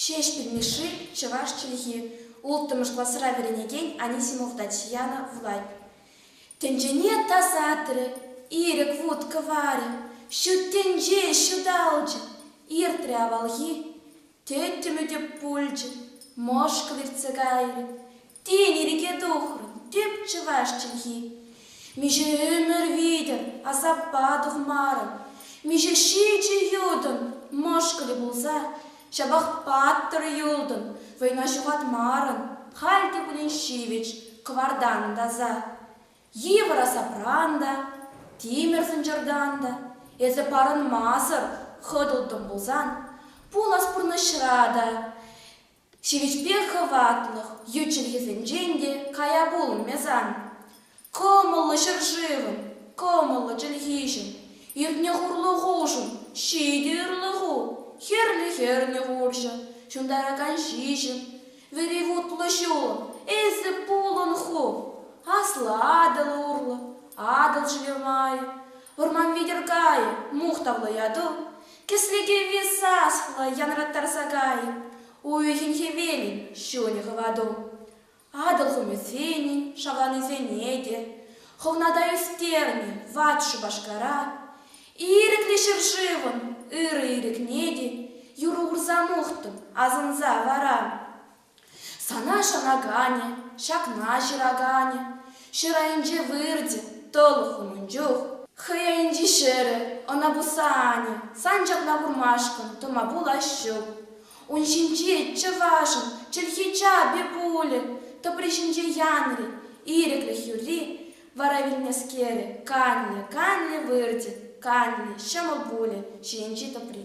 Ҫеҫпӗл Мишши, чӑваш чӗлхи, улттӑмӗш класра вӗренекен Анисимов Татьяна вулать. Тӗнчене тасатрӗ, ирӗк вут кӑварӗ, ҫут тӗнче ҫуталчӗ, иртрӗ авалхи, тӗттӗмӗ те пулчӗ, мӑшкӑл иртсе кайрӗ, Тен, ирӗке тухрӑн, теп, чӑваш чӗлхи. Миҫе ӗмӗр витӗр асаппа тухмарӑм, миҫе ҫичӗ ютӑн мӑшкӑлӗ пулса ҫапах паттӑр юлтӑн, вӑйна ҫухатмарӑн, халь те пулин ҫивӗч кӑвартан таса. Йывӑр асапран та, тимӗр сӑнчӑртан та эсӗ парӑнмасӑр хӑтӑлтӑн пулсан, пулас пурнӑҫра та Ҫивӗчпе хӑватлӑх ют чӗлхесенчен те кая пулмӗ-сан. Кӑмӑллӑ ҫӗршывӑн, кӑмӑллӑ чӗлхиҫӗн, иртнӗ хурлӑхушӑн ҫитӗ ырлӑху, хӗрлӗ-хӗрлӗ хурҫӑ, ҫунтаракан ҫиҫӗм, вӗри вутлӑ ҫулӑм, эсӗ пулӑн ху, аслӑ Атӑл урлӑ, Атӑл ҫӗлермайӗ, вӑрман витӗр кайӗ, мухтавлӑ яту, Кӗслекеви саслӑ янраттарса кай, Уйӑхӗн хӗвелӗн ҫунӗ хӑвату. Атӑл хумӗсенӗн шавланисене те Хӑвната ӳстернӗ ват Шупашкара. Ирӗклӗ ҫӗршывӑн ырӑ ирӗкне те Юр урса мухтӑн асӑнса вара. Сана шанаканӗ, ҫакна ҫыраканӗ, ҫӗр айӗнче выртӗ, тӑлӑх унӑн чух. Хӑй айӗнчи ҫӗрӗ, ӑна пусса анӗ, сан ҫакна курмашкӑн тӑма пулас ҫук. Ун ҫинче чӑвашӑн чӗлхи чапӗ пулӗ, тӑпри ҫинче янри, ирӗклӗх юрри, вара вилнӗскерӗ канлӗ, канлӗ выртӗ, канлӗ, ҫӑмӑл пулӗ ҫийӗнчи тӑпри.